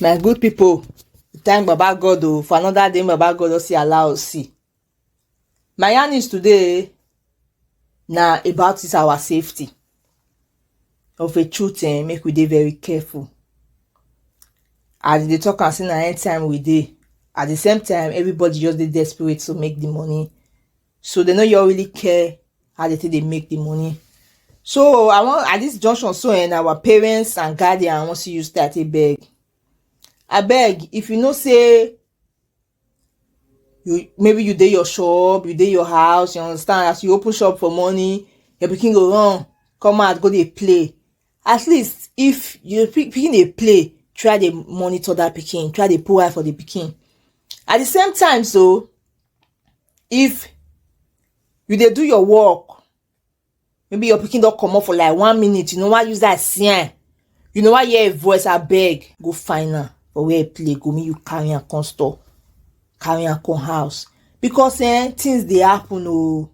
my good people thank baba god o oh, for another day baba god don see allow us see My yarnings today na about this our safety of a truth eh, make we dey very careful as they talk and say na end time we dey at the same time everybody just dey desperate to make the money so they no you really care how they take dey make the money so i wan at this junction so and eh, our parents and guardian wan see you start a beg abeg if you know say you maybe you dey your shop you dey your house you understand as you open shop for morning your pikin go run come out go dey play at least if your pikin dey play try dey monitor that pikin try dey put eye for the pikin at the same time so if you dey do your work maybe your pikin don comot for like one minute you no wan use eye see am you no wan hear im voice abeg go find am for where e play go make you carry am come store carry am come house because eh, things dey happen o oh.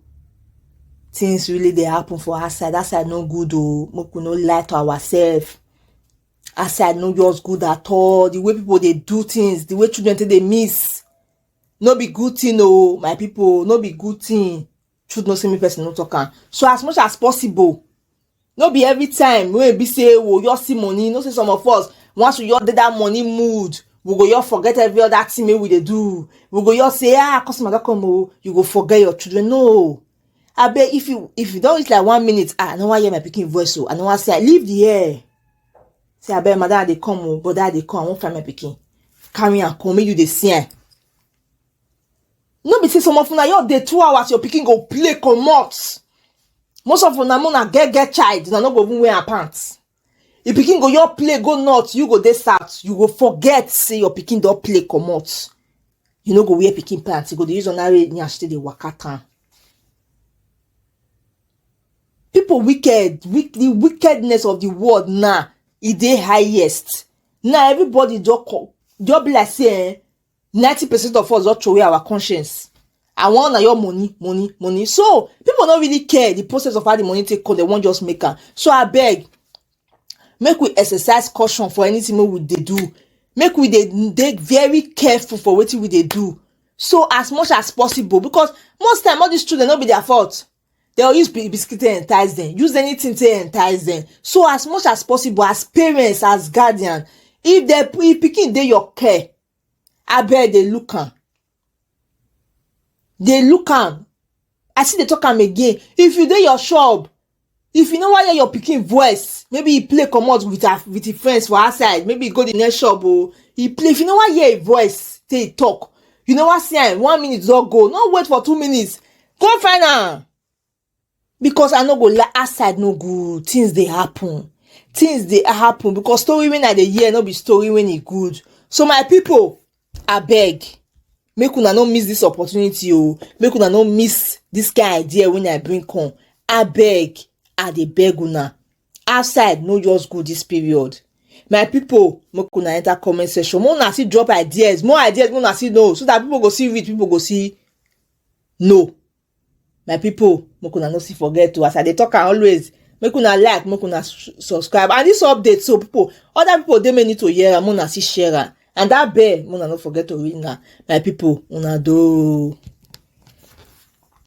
things really dey happen for outside outside no good o oh. make we no lie to ourselves outside no just good at all the way people dey do things the way children take dey miss no be good thing o oh, my people no be good thing truth no say make person no talk am so as much as possible no be every time wey be say wo your see money no say some of us once we your dey that money mood we go your forget every other thing wey we dey do we go your say ah customer don come o you go forget your children no abeg if you if you don reach like one minute ah i no wan hear my pikin voice o i no wan see am leave the air say abeg madam i dey come o brother i dey come i wan find my pikin carry am come make you dey see am no be say some of una your dey two hours your pikin go play comot most of una una get get child una no go even wear her pants if pikin go your play go north you go dey south you go forget say your pikin don play comot you no go wear pikin pants you go dey use ordinary nyash take dey waka town people wicked wick the wickedness of the world now e dey highest now everybody just come just be like say eh 90 percent of us don throw away our conscience i wan na your money money money so people no really care the process of how the money take come dem wan just make am so abeg make we exercise caution for anything wey we dey do make we dey dey very careful for wetin we dey do so as much as possible because most time all these children no be their fault Dem go use biscuit take entice dem, use anything take entice dem. So as much as possible, as parents, as guardian, if dem if pikin dey your care, abeg dey look am. Dey look am. I still dey talk am again. If you dey your shop, if you no wan hear your pikin voice, maybe e play comot with her with im friends for outside, maybe e go the next shop o, e play, if you no wan hear im voice take e talk, you no wan see am, one minute don go, no wait for two minutes, go find am because i no go lie outside no good things dey happen things dey happen because story wey i dey hear no be story wey e good so my people abeg make una no miss this opportunity o oh. make una no miss this kind idea wey i bring come abeg i dey beg una outside no just go this period my people make una enter comment section make una still drop ideas more ideas make una still know so that people go see read people go see no my people make una no see forget to as i dey talk am always make una like make una subscribe and this update so people other people dey may need to hear am una see share am and that bell una no forget to ring am my people una do.